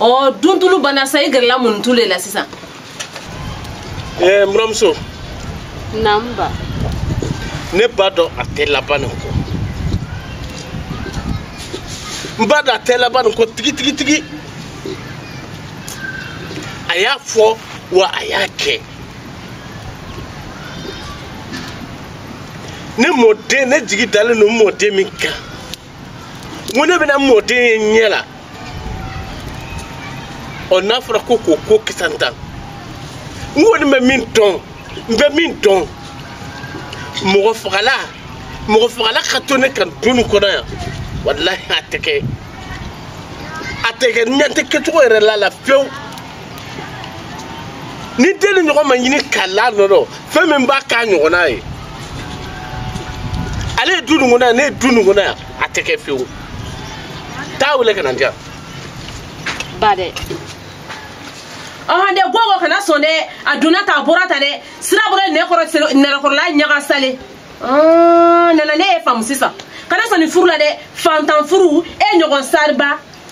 ɔ duntulu banna sa i gɛrɛla muntulu de la sisan ɛɛ n buramuso naamu ba ne b'a dɔn a tɛ laban nin kɔ n b'a dɔn a tɛ laban nin kɔ tigitigitigi a y'a fɔ wa a y'a kɛ ne mɔden ne jigi dalen don n mɔden min kan n ko ne bɛna mɔden ye n ɲɛ la ɔ n'a fɔra ko k'o ko kisantan n kɔni bɛ min dɔn n bɛ min dɔn mɔgɔ fagala mɔgɔ fagala ka to ne kan du nin kɔnɔ yan walahi a tɛ kɛ a tɛ kɛ ɲɛ tɛ kɛcogo yɛrɛ la la fewu ni den nin ɲɔgɔn ma ɲini ka la nɔ dɔ fɛn min b'a k'a ɲɔgɔnna ye ale ye du nin kɔnɔ yan ne ye du nin kɔnɔ yan a tɛ kɛ fewu taa wele ka na n diya ba dɛ ɔhɔn dɛ gogo kana sɔn dɛ a donna ta a bɔra ta dɛ sira bɔra nɛgɛkɔrɔ nɛgɛkɔrɔla ɲaga sale nana ne y'i faamu sisan kana sɔn nin furu la dɛ fantan furu e ɲɔgɔn sariba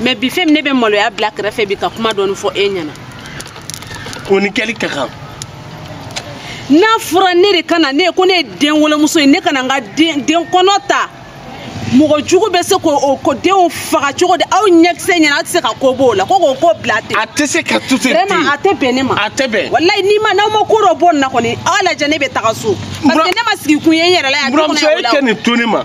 mais bi fɛn min ne bɛ maloya bila kɛrɛfɛ bi ka kuma dɔɔni fɔ e ɲɛna o ni kɛli ka kan n'a fɔra ne de kana ne ko ne ye denwolomuso ye ne kana n ka den kɔnɔ ta mɔgɔ jugu bɛ se k'o ko denw faga cogo di aw ɲɛkisɛ ɲɛna aw tɛ se ka ko b'o la ko k'o ko bila ten a tɛ se ka to ten vraiment a tɛ bɛn ne ma a tɛ bɛn walayi n'i ma n'aw ma ko dɔ bɔ nin na kɔni aw lajɛ ne bɛ taga so parce que ne ma sigikun ye n yɛrɛ la yan buramuso e tɛ nin to ne ma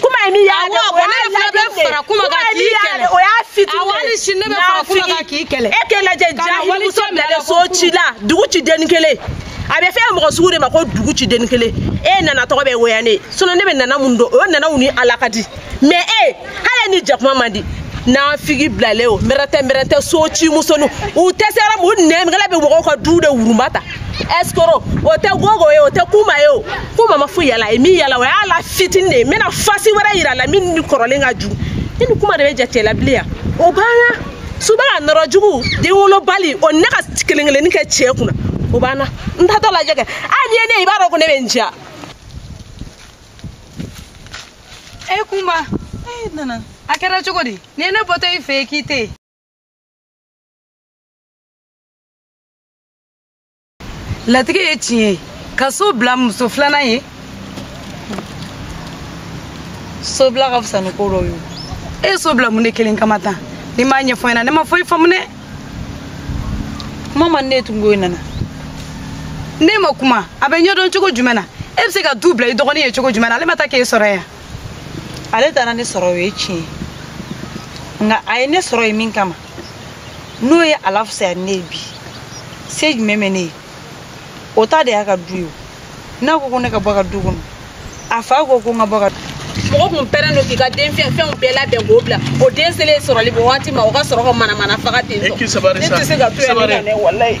kuma ye min y'a dɛ, o y'a fitinin Awɔ, hali sini ne bɛna fara kuma kan k'i kɛlɛ. e k'e lajɛ jahilimuso bilalen so ci la dugu ci den kelen a bɛ f'e mɔgɔ sugu de ma ko dugu ci den kelen e nana tɔgɔ bɛ woya ne sinon ne bɛ nana mun dɔn o nanaw ni ala ka di mais e hali ni jakuma man di nafigi bilalen o mɛrɛtɛ mɛrɛtɛ so ci musonu u tɛ se yɔrɔ min u nɛmikɛla bɛ mɔgɔw ka du de wurunba ta escroc o tɛ gogo ye o tɛ kuma ye o kuma ma foyi yira a la a ye min yira a la o y'a la fitini de ye n bɛna face wɛrɛ yira a la min ni kɔrɔlen ka jugu ne ni kuma de bɛ jate la bilen yan o banna suba ka nɔrɔ jugu den wolobali o ne ka kelen kelenni kɛ cɛ kunna o banna n taatɔ lajɛ kɛ hali n'i ye ne ye i b'a dɔn ko ne bɛ n diya. e kunba e nana a kɛra cogo di nin ye ne bɔtɔ i fɛ yen k'i tɛ yen. latigɛ ye tiɲɛ ye ka so bila muso filanan ye so bila ka fisa ni ko dɔw ye e ye so bila mun de kelen kama tan n'i m'a ɲɛfɔ n ɲɛna ne ma foyi faamu dɛ kuma man ne ye tun ko in nana ne ma kuma a bɛ ɲɛdɔn cogo jumɛn na e bɛ se ka du bila i dɔgɔnin ye cogo jumɛn na ale ma taa k'e sɔrɔ yan ale taara ne sɔrɔ o ye tiɲɛ ye nka a ye ne sɔrɔ ye min kama n'o ye a lafisaya ne ye bi se jumɛn bɛ ne ye o ta de y'a ka du ye n'a ko ko ne ka bɔ a ka du kɔnɔ a fa ko ko n ka bɔ ka mɔgɔ kun pɛrɛn don k'i ka den fɛnw bɛɛ labɛn k'o bila o den selen sɔrɔli bɔ waati ma o ka sɔrɔ ka manamana faga ten tɔ ne tɛ se ka to yan ne ka ne walayi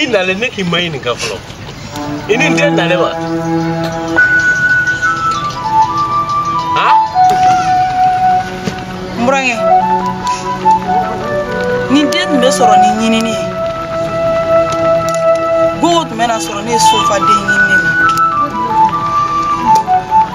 i nalen ne k'i ma ɲininka fɔlɔ i ni n den nalen wa n burankɛ ni den tun bɛ sɔrɔ ni ɲinini ye gogo tun bɛ na sɔrɔ ne ye so fa den ɲinini na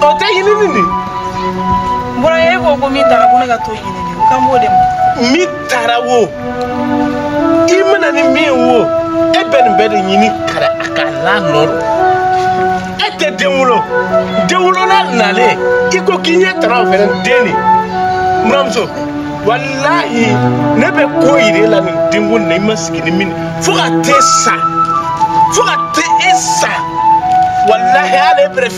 o tɛ ɲini nin de bɔra e ko ko min taara ko ne ka t'o ɲini de ko kan b'o de ma min taara wo i mana ni min wo e bɛ nin bɛɛ de ɲini kara a ka la nɔ don e tɛ den wolo denwolola nalen i ko k'i ɲɛ t'a ra o fɛnɛ den de buranmuso walahi ne bɛ ko yir'e la nin denko na i ma sigi ni min fo ka t'e sa fo ka t'e sa walahi ale bɛrɛ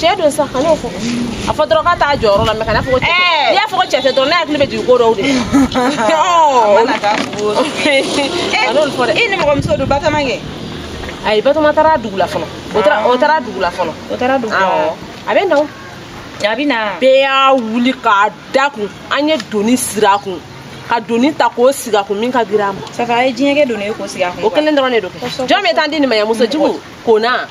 cɛ don sa kan'o fɔ a fɔ dɔrɔn k'a t'a jɔyɔrɔ la mais kan'a fɔ ko cɛ tɛ n'i y'a fɔ ko cɛ tɛ dɔrɔn ne hakili bɛ jigin ko dɔw de kan'olu fɔ dɛ i nimɔgɔmuso don batɔma kɛ ayi batɔma taara dugu la fɔlɔ o taara dugu la fɔlɔ o taara dugu la a bɛ na o a bɛ na bɛɛ y'a wuli k'a da kun an ye doni sir'a kun ka doni ta k'o sigi a kun min ka girin a ma safa a ye diɲɛkɛ doni ye k'o sigi a kun o kelen dɔrɔn de don kɛ jɔn bɛ taa di nin ma yan muso jugu kona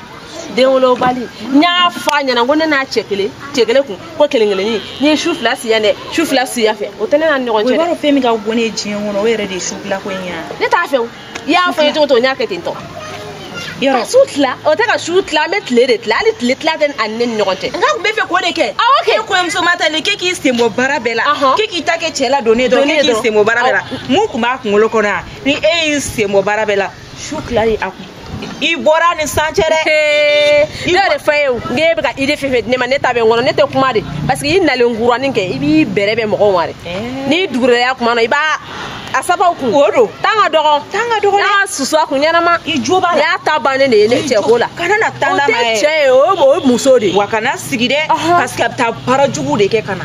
denwolobali n y'a fɔ a ɲɛna ko ne n'a cɛ kelen cɛ kelen kun ko kelen kelenni n'i ye su fila si yan dɛ su fila si yan fɛ o tɛ ne n'a ni ɲɔgɔn cɛ dɛ. o b'a dɔn fɛn min ka bon ne ye diɲɛ kɔnɔ o yɛrɛ de ye su fila ko in ye. ne t'a fɛ o i y'a fɔ n ye cogo o cogo n y'a kɛ ten tɔ. yɔrɔ ka su tila o tɛ ka su tila an bɛ tile de tila hali tile tila tɛ a ni ne ni ɲɔgɔn cɛ. nka tun b'a fɛ k'o de kɛ. awɔ kɛ. e kɔɲɔmuso ma talen k'e k'i sen bɔ baara bɛɛ la. k'e k'i ta kɛ cɛ ladonni dɔrɔn k'e k'i sen bɔ baara bɛɛ la mun tun b'a kunkolo kɔnɔ yan ni e y'i sen bɔ baara bɛɛ la. su tila de a kun i bɔra ni san cɛ dɛ ne yɛrɛ fa ye ne bɛ ka idée fɛn fɛn di ne ma ne ta bɛ n kɔnɔ ne tɛ kuma de parce que i nalen kuranin kɛ i b'i bɛrɛ bɛn mɔgɔw ma dɛ n'i dugurɛya kuma na i b'a a sabaw kun o don tan ka dɔgɔn tan ka dɔgɔn n'a susu a kun ɲɛnama i jo b'a la y'a ta bannen de ye ne cɛ ko la kana na tan lama ye o tɛ cɛ ye o ye muso de ye wa kana sigi dɛ parce que a bɛ taa baara jugu de kɛ ka na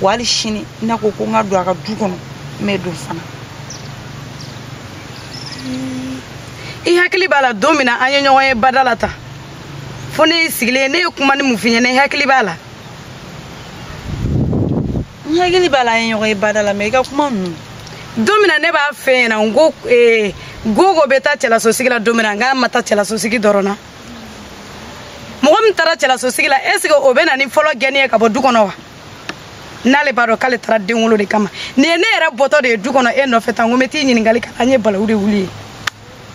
wa hali sini n'a ko ko n ka don a ka du kɔnɔ n bɛ don fana i hakili b'a la don min na an ye ɲɔgɔn ye bada la tan fo ne y'i sigilen ye ne ye kuma ni mun f'i ɲɛna i hakili b'a la n hakili b'a la an ye ɲɔgɔn ye bada la mɛ i ka kuma ninnu don min na ne b'a f'i ɲɛna n ko gogo bɛ taa cɛlasosigi la don min na nk'a ma taa cɛlasosigi dɔrɔn na mɔgɔ min taara cɛlasosigi la est ce que o bɛ na ni fɔlɔ gɛnni ye ka bɔ du kɔnɔ wa n'ale b'a dɔn k'ale taara den wolo de kama nin ye ne yɛrɛ bɔtɔ de ye du kɔnɔ e nɔfɛ tan ko n bɛ t'i ɲininkali kɛ an ye balawu de wuli ye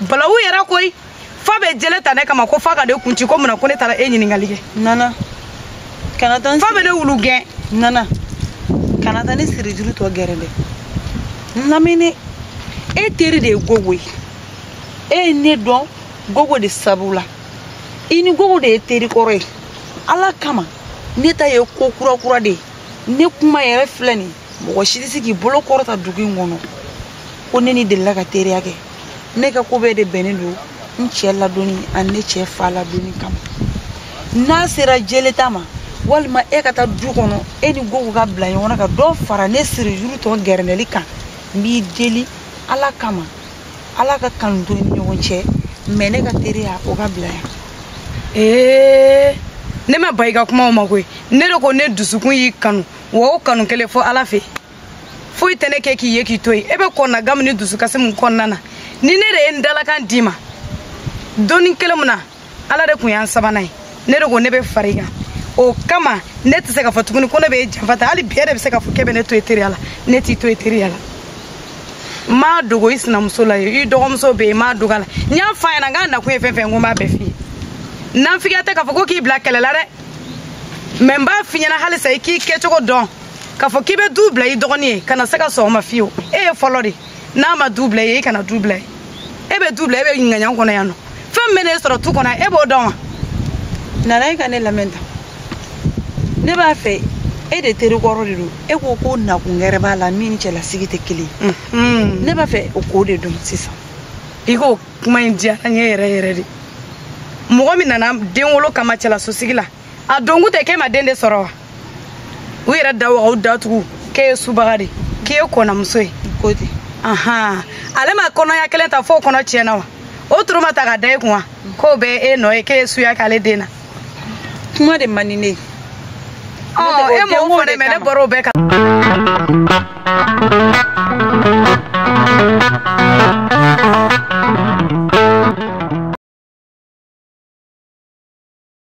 balawu yɛrɛ koyi fa bɛ jele ta ne kama ko fa ka ne kun ci ko mun na ko ne taara e ɲininkali kɛ nana kana taa fa bɛ ne wulu gɛn nana kana taa ne sirijuru tɔ gɛrɛndɛ n lamɛn e teri de ye gogo ye e ye ne dɔn gogo de sabu la i ni gogo de ye teri kɔrɔ ye ala kama ne ta ye ko kura kura de ye ne kuma yɛrɛ filɛ nin mɔgɔ si tɛ se k'i bolo kɔrɔta dugu in kɔnɔ ko ne n'i delila ka teriya kɛ ne ka ko bɛɛ de bɛnnen don n cɛ ladonni ani ne cɛ fa ladonni kama n'a sera jeleta ma walima e ka taa du kɔnɔ e ni gogo ka bila ɲɔgɔn na ka dɔ fara ne siri juru tɔ gɛrɛndɛli kan n b'i deli ala kama ala ka kanu to ni ɲɔgɔn cɛ mɛ ne ka teriya o ka bila yan ee ne ma ban i ka kumaw ma koyi ne de ko ne dusukun y'i kanu wa o kanu kelen fo ala fɛ foyi tɛ ne kɛ k'i ye k'i to yen e bɛ kɔnɔnagan min ni dusukasi min kɔnɔna na ni ne de ye n dalakan d'i ma don nin kelen min na ala de kun y'an sabanan ye ne de ko ne bɛ far'i kan o kama ne tɛ se k'a fɔ tuguni ko ne bɛ janfa ta hali bi e de bɛ se k'a fɔ k'e bɛ ne to e teriya la ne t'i to e teriya la n m'a dogo i sinamuso la i dɔgɔmuso bɛ yen n m'a dogo a la n y'a fɔ a ɲɛna n k'a nakun ye fɛn fɛn ko n b'a bɛɛ f'i ye nanfigiya tɛ k'a fɔ ko k'i bila kɛlɛ la dɛ mɛ n b'a f'i ɲɛna halisa i k'i kɛcogo dɔn k'a fɔ k'i bɛ du bila i dɔgɔnin ye kana se ka sɔn o ma fiyewu e ye fɔlɔ de n'a ma du bil'i ye e kana du bil'a ye e bɛ du bila e bɛ ɲininkaɲan kɔnɔ yan nɔ fɛn min bɛ ne sɔrɔ du kɔnɔ e b'o dɔn wa nana e ka ne lamɛn tan ne b'a fɛ e de teri kɔrɔ de don e ko ko nakun gɛrɛ b'a la min ni cɛlasigi tɛ kelen ye mhm. ne b'a fɛ o ko de dɔn sisan i k'o kuma in diyara n ye yɛrɛ yɛrɛ de mɔgɔ min nana den wolo kama cɛlasosigi la a donkun tɛ k'e ma den de sɔrɔ wa u yɛrɛ da wagaw datugu k'e ye subaga de k'i ye konamuso ye ko ten ahan ale ma kɔnɔya kelen ta f'o kɔnɔ tiɲɛna wa o turu ma ta ka da e kun wa k'o bɛɛ e nɔ ye k'e ye suya k'ale den na kuma de man di ne ye ɔ e m'o fɔ dɛ mɛ ne bɔra o bɛɛ kan